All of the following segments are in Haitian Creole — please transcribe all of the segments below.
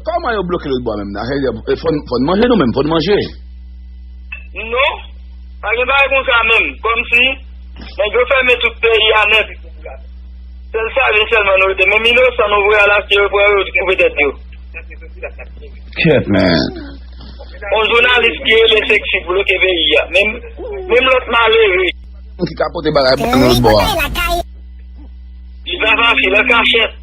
Koman yo bloke lòt bò a menm nan? Fò n manje nou menm, fò n manje. Non, pa gen bagay kon sa menm. Kòm si, nèg yo fèmen tout peyi a nèt. Sèl save sèlman nou rete. Menm inosan nou voye al achte yo pran yo twouve tèt yo. Kèt men. On jounalis ki rele Sexy bloke peyi a. Menm lòt malere. Moun ki ka pote bagay pou nou lòt bò a. Li pa fasil, lè kachèt.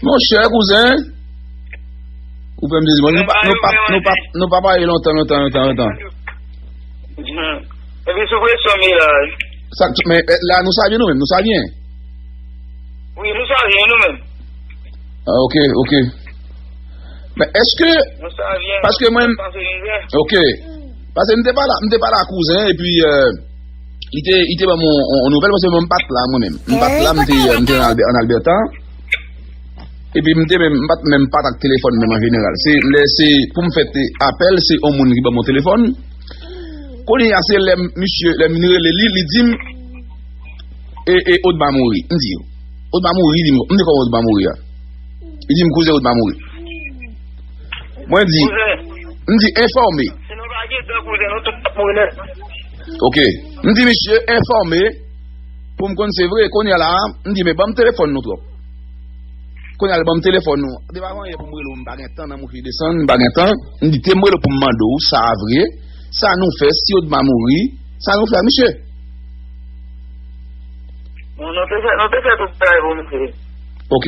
Mon chè kouzen, ou fèm dezi mwen, nou pa pa e lontan, lontan, lontan, lontan. E mi sou presyon mi la. Sa, men, la nou sa vyen nou men, nou sa vyen. Oui, nou sa vyen nou men. A, ah, ok, ok. Men, eske, paske mwen, ok, paske mwen te pa la, mwen te pa la kouzen, e pi, e, euh, Li te ban m yon nouvèl paske mwen m pat la mwen menm. M pat la, m te an Alberta. Epi m te menm, m pat menm pat ak telefòn menm an jeneral. Se lè se pou m fè te apèl, se yon moun ki ban mwen telefòn. Kounye a se lè misye, lè m vin rele li, li di m, E Odma mouri. M di, Odma mouri? Li di, m di kòman Odma mouri a? Li di m, kouzen Odma mouri. Mwen di, m di, enfòme. Se nou pa gen dan kouzen nou tout ap mouri nèt. Ok. M di misye enfòme pou m konn se vre. Kounye a la, m di men ban m telefòn nou twòp. Kounye a l ban m telefòn nou. M te pa gen anyen pou m rele w, m pa gen tan nan mwen fini desann, m pa gen tan. M di te m rele w pou m mande w sa a vre, sa nou fè si Odma mouri, sa nou fè ak misye? Bon, nou te fè, nou te fè tout bagay pou misye. Ok.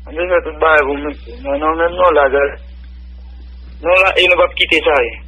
Nou te fè tout bagay pou misye. Men nou menm nou la gade. Nou la e nou pa p kite sa e.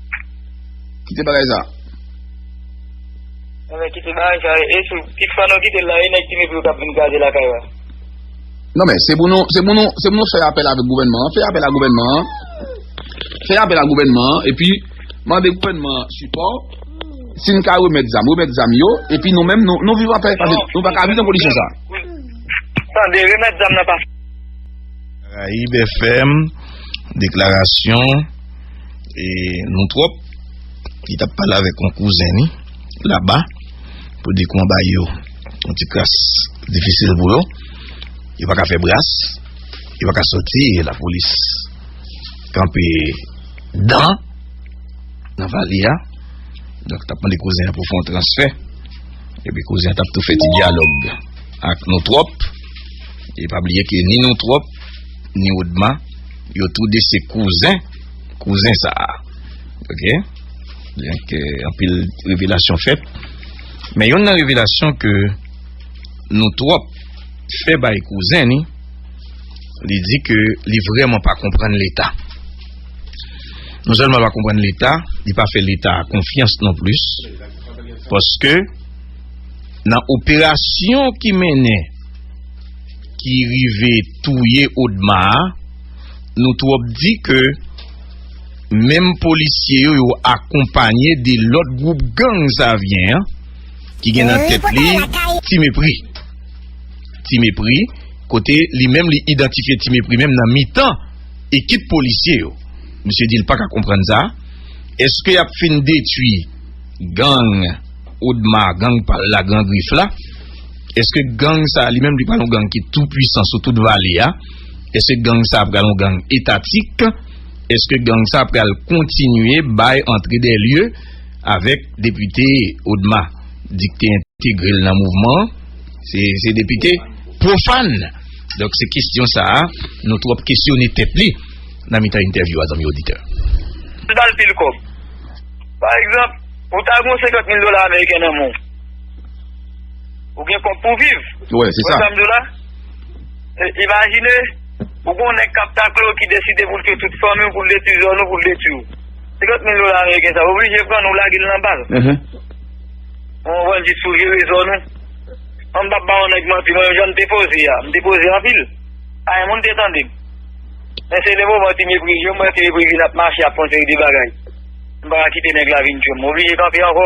Kite bagay sa. Mwen men kite bagay sa. E sou pit fwa nou kite la e nèk ti mèk yo kap vin gaze la kay la. Non men se pou nou se pou nou se pou nou fè apèl avèk gouvènman an. Fè apèl a gouvènman an. Fè apèl a gouvènman an. E pi mande gouvènman an sipò. Si n ka remèt zam. Remèt zam yo. E pi nou men nou viv apèl. Nou pa ka viv nan kondisyon sa. Tande remèt zam nan pa. Karayib FM. Deklarasyon. E nou trop li tap pale avek yon kouzen li laba pou di kman bay yo yon ti kras difisil pou yo yo pa ka fe bras yo pa ka soti e la polis kanpe dan nan vali a donk tap mande kouzen pou fon transfe e pi kouzen tap tou feti dialog ak nou trop e pa bliye ke ni nou trop ni ou dma Yo tou 2 se kouzen, kouzen sa a. Ok? Byen ke anpil revelasyon fèt. Men yon nan revelasyon ke nou twòp fè bay kouzen ni, li di ke li vreman pa konprann leta. Non sèlman pa konprann leta, li pa fè leta konfyans non plis. Paske nan operasyon ki mennen, ki rive. touye odma a nou trop di ke menm polisye yo yo akonpanye de lot group gang savyen an ki gen nan tet li ti mepri ti mepri kote li menm li idantifye ti mepri menm nan mitan ekip polisye yo misye di li paka konprann sa eske yap fin detwi gang odma gang pal la gran grif la. Eske gang sa li menm li pral yon gang ki tou pwisan sou tout vale a? Eske gang sa pral yon gang etatik? Eske gang sa pral kontinye bay antre dè lye avèk depite Odma? Di ki te entegre l nan mouvman an, se depite pwofàn! Donk se kesyon sa a nou tou ap kesyone tèt li nan mitan entèvyou a zanmi oditè. Li ba l pil kòb. Pa egzanp, ou ta gen yon 50 mil dola ameriken nan men w. Ou gen kòb pou viv. Ou wè sa m di w la? Imajine, ou gen yon nèg k ap takle w ki deside pou l touye tout fanmi w, pou l detui zòn ou, pou l detui w. 50 mil dola ameriken sa, ou oblije pran l, ou lage l nan bal. Yon bandi t souleve zòn ou. Mwen m p ap ba yon nèg manti, mwen menm jan m te poze a, m te poze anpil. Pagen moun te tande m. Men se le moman ti mepri yo, m wè ti mepri vin ap mache, ap fon seri de bagay. M pa ka kite nèg la vin tchwe m. M oblije kanpe ankò.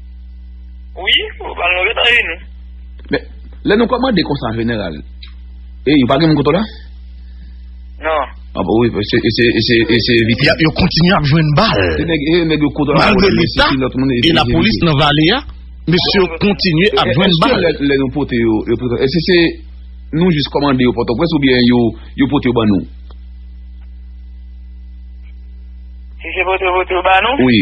Wi, ou pral move nan je nou. Men, lè nou kòmande konsa jeneral, e yo pa gen moun kote w la? Non. A bon wi, e se, e se, e se evite. Ya, yo kontinye ap jwenn bal. Se nèg, e nèg yo kote w la. Malgre leta, e la polis nan vale ya, mesye yo kontinye ap jwenn bal. E se lè nou pote yo, yo pote, e se se nou jis kòmande yo pote w pwès ou byen yo, yo pote yo ban nou? Si se pote yo pote yo ban nou? Wi.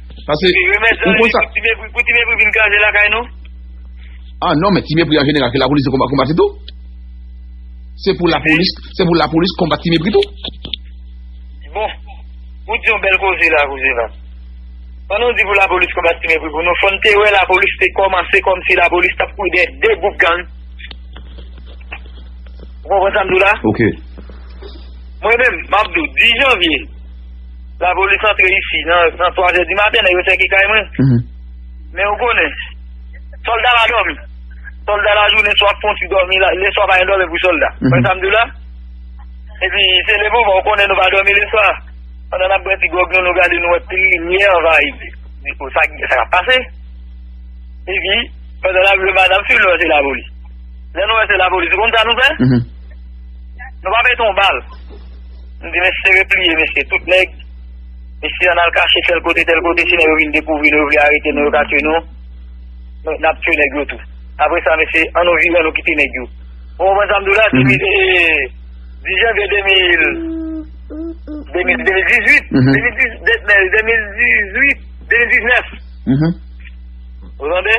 Pase, ou konn sa. Ti mepri, pou ti mepri vin kraze lakay nou? Ah non, men ti mepri an jeneral, ke lapolis konbat li tou. Se pou lapolis, se pou lapolis konbat ti mepri tou. Bon, ou di yon bel koze la, koze la. Pandan ou di pou lapolis konbat ti mepri, pou nou fon te we lapolis te komanse konm si lapolis tap kou de de goup gang. Ou konpon sa mdou la? Ok. Mwen men, mabdou, di janvye. Lapolis antre isi nan 3 zè di maten, nèg yo sèke kay mwen. Men ou konnen, sòlda pa dòmi. Sòlda lajounen swa fon ti dòmi, leswa pa gen dòmi pou sòlda. Ou konprann sa m di w la? Epi se le moman ou konnen nou pa dòmi leswa, pandan n ap bwè ti gwòg nou, nou gade nou wè pil limyè anvayi depo. Sa k ap pase? Epi, pandan n ap jwe Madam Fim, nou wè se lapolis. Lè nou wè se lapolis, ou konn sa nou fè? Nou pa pete yon bal. M di mesye repliye mesye tout nèg Mesye an al kache tèl kote tèl kote si nèg yo vin dekouvri nou yo vle arete nou yo ka tye nou n ap tye nèg yo tou apre sa mesye an nou vire an nou kite nèg yo Ou konprann sa m di w la depi 10 janvye 2000 2018 2018 2019 Ou tande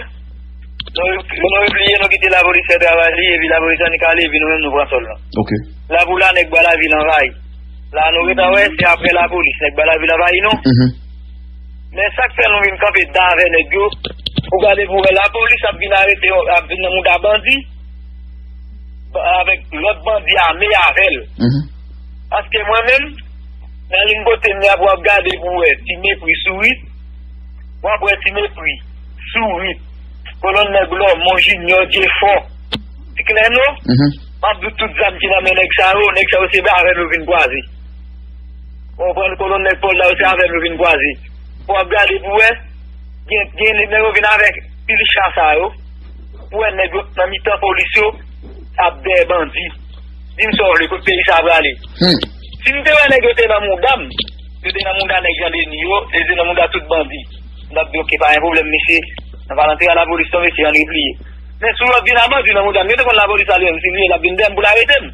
Nou repliye nou kite lapolis fè travay li epi lapolis annik ale epi nou menm nou pran sòl la. La pou la nèg ba la vil anvayi. La nou reta wè se aprè la polis nèg ba la vil anvayi nou. Men sak fè nou vin kanpe dan avè nèg yo pou gade pou wè la polis ap vin arete yo ap vin nan mouda bandi avèk lòt bandi ame avèl. Paske mwen menm nan ling kote m ya pou wap gade pou wè ti mepri sourit wap wè ti mepri sourit kolonn nèg lòmon jinyò jefò ti klè nou. Map di w tout zam ki nan men nèg sa yo, nèg sa yo se avèm yo vin kwaze. Ou konprann? Kolonn nèg sòlda yo se avèm yo vin kwaze. Fò wap gade pou wè, gen nèg yo vin avèk pil cha sa yo, pou wè nèg yo nan mitan polis yo ap dèyè bandi. Di m sa w vle, kot peyi sa prale? Si m te wè nèg yo te nan mouda m, yo te nan mouda nèg Jan Deni yo, yo te nan mouda tout bandi, m tap di ok pa gen pwoblèm mesye, nan pa rantre a lapolis non mesye an repliye. Men si yo vin a bandi nan moudam, yo te konn lapolis salye m, si li ye l ap vin dèyè m pou l arete m.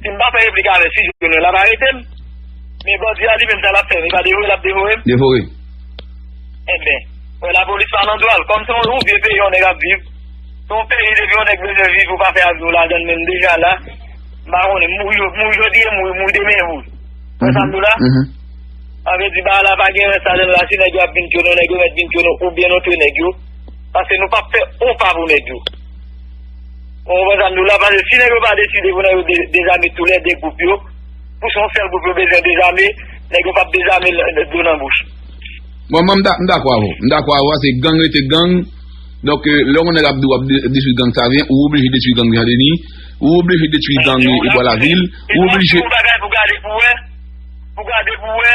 Si m pa fè replik avè l, si jouk jounen l ap arete m. Men bandi a li menm sa l ap fè m, li pa devore l ap devore m? Devore. Enben, wè lapolis pa nan dwa l. Kòm se yon vye peyi yon nèg ap viv, se yon peyi depi yon nèg bezwen viv ou pa fè ak nou ladan l men m deja la, m pa konnen, m mouri jodi e m mouri demen vre. Ou wè sa m di w la? Sa vle di bagay la pa gen rès ladan l la, si nèg yo ap vin tyonnen w, nèg yo mèt vin tyonnen w oubyen nou twe nèg yo. Paske nou pap fè on pa pou nèg yo. Ou konprann sa m di w la? Paske si nèg yo pa deside pou nèg yo dezame tou lè 2 gwoup yo, pou se yon sèl gwoup yo bezwen dezame, nèg yo pap dezame dlo nan bouch. Bon, mwen m dakò avè w. M dakò avè w, se gang rete gang. Donk, lè yon nèg ap di w ap detwi gang sa vyen, ou oblije detwi gang Jan Deni, ou oblije detwi gang Ebwa Lavil, ou oblije. Yon bagay pou gade pou wè, pou gade pou wè.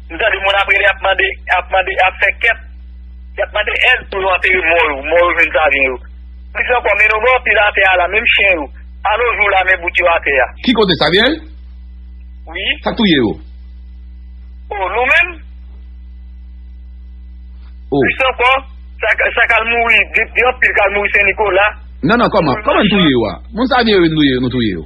M tande moun ap rele ap mande, ap mande, ap fè kep, yap mande èd pou yo antere mò yo, mò yo jwenn savyen yo. Plis ankò, men nou bò anpil atè a la, menm chen yo, a no jou la men bout yo atè a. Ki kote Samuel? Wi. Sak touye yo? Oh, nou menm? Oh. Plis ankò, sa, sa kal mouri, gen anpil kal mouri Sen Nikola. Non, non, kòman, kòman n touye yo a? Moun savyen yo nou ye, nou touye yo?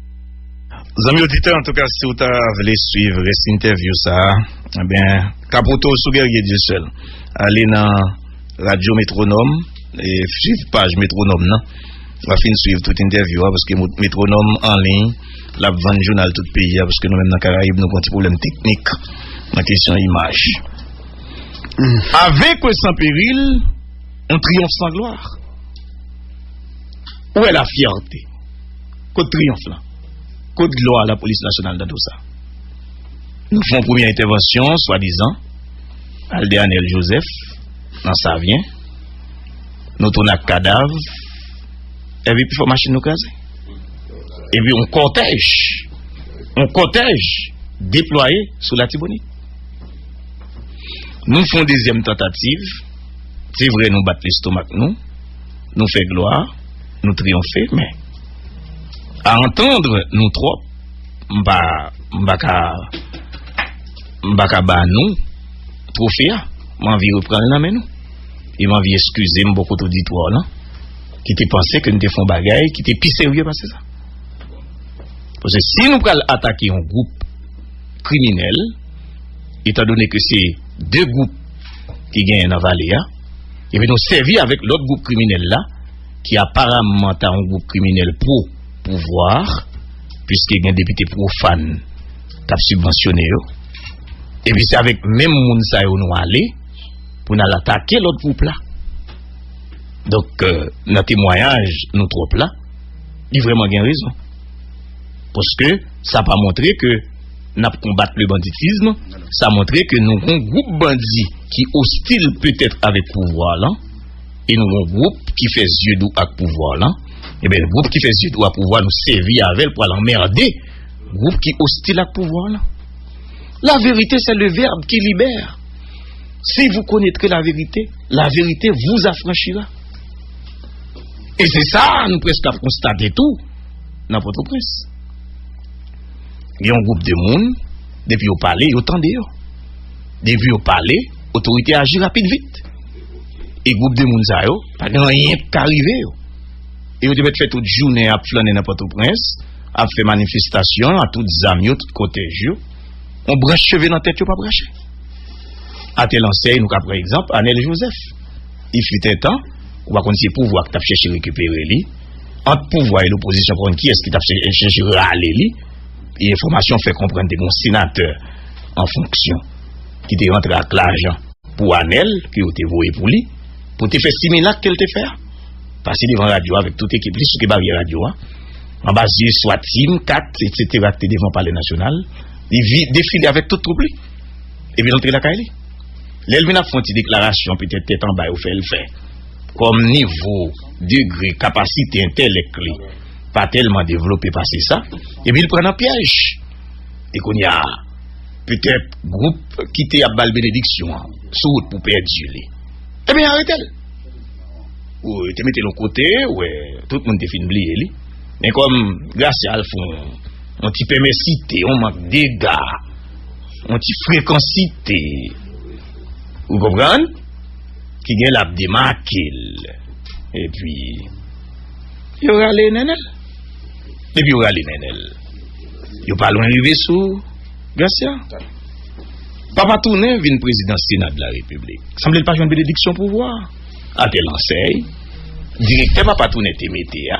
Zanmi oditè antouka si ou ta vle swiv rès entèvyou sa ebyen kapote w sou Guerrier Dieuseul ale nan radyo metronòm e swiv paj metronòm nan w ap fin swiv tout entèvyou a paske metronòm anliy l ap vann jounal tout peyi a paske nou menm nan karayib nou gon ti pwoblèm teknik nan kesyon imaj a venkwe san peril yon triyonf san glwa ou wè lafyète. Kot triyonf lan? Kot glwa lapolis nasyonal nan tout sa? Nou fè yon premye entèvansyon swadizan al de Anèl Jozèf nan Savyen, nou tounen ak kadav epi pifò machin nou kraze. Epi yon kòtèj, yon kòtèj deplwaye sou Latibonit. Nou fè yon dezyèm tantativ, se vre nou bat lestomak nou. Nou fè glwa, nou triyonfe, men a antandre nou twòp, m pa, m pa ka, m pa ka ba nou twofe a. M anvi repran l nan men nou. E m anvi eskize m bòkot oditwa w lan ki te panse ke n te fè yon bagay ki te pi serye pase sa. Pase si nou pral atake yon gwoup kriminèl, etandone ke se de gwoup ki genyen nan vale a, Epi nou sèvi avèk lòt gwoup kriminèl la, ki aparamman ta yon gwoup kriminèl pwo pouvwa, piske gen depite pwofàn k ap sibvansyone yo. Epi se avèk menm moun sa yo nou ale pou n al atake lòt gwoup la. Donk, nan temwayaj nou twòp la, li vrèman gen rezon. Paske sa pa montre ke. Nap konbat le banditism, sa montre ke nou gon gwoup bandi ki ostil petèt avèk pouvwa lan, e nou gon gwoup ki fè zye dou ak pouvwa lan, eben gwoup ki fè zye dou ak pouvwa nou sèvi avèl pwal anmerde gwoup ki ostil ak pouvwa lan. La verite sè le vèb ki libè. Si vou konetre la verite, la verite vou afranchira. E se sa nou preske ap konstate tou nan Potoprens. Gen yon gwoup de moun, depi yo pale, yo tande yo. Depi yo pale, otorite aji rapid vit. E gwoup de moun sa yo, pa gen anyen ki ka rive yo. E yo te mèt fè tout jounen ap flannen nan Pòtoprens, ap fè manifestasyon a tout zam yo, tout kotèj yo. Yon branch cheve nan tèt yo pa p rache. A tèl ansèy, nou ka pran egzanp Anèl Jozèf. Il fut un temps, ou pa konn se pouvwa ki t ap chèche rekipere li. Ant pouvwa e lopozisyon konn kiyès ki t ap chèche rale li e enfòmasyon fè konprann te gen yon senatè an fonksyon ki te rantre ak lajan pou Anèl ke yo te voye pou li pou te fè similak ke l te fè a pase devan radyo a avèk tout ekip li soute baryè radyo a anba zye swa Tim, Kat, etsetera ki te devan palè nasyonal li defile avèk tout twoup li epi l antre lakay li lè l vin ap fè yon ti deklarasyon petèt tèt anba yo fè l fè. Kòm nivo, degre, kapasite entèlèk li pa tèlman devlope pase sa, epi l pran nan pyèj. E kounye a, petèt gwoup ki te ap ba l benediksyon an sou wout pou pèdi li. Ebyen, arete l! Ou te mete l yon kote, ou wè, tout moun te fin bliye li. Men kòm Gracia al fè yon ti pèmèsite, yon mank dega, yon ti frekansite, ou konprann? ki gen lap demakel epi yo rale nenel depi yo rale nenel yo pa lwen rive sou gracia papa tounen vin prezidan sena de la repiblik sanble l pa jwenn benediksyon pouvwa ate l ansèy direktè papa tounen te mete a.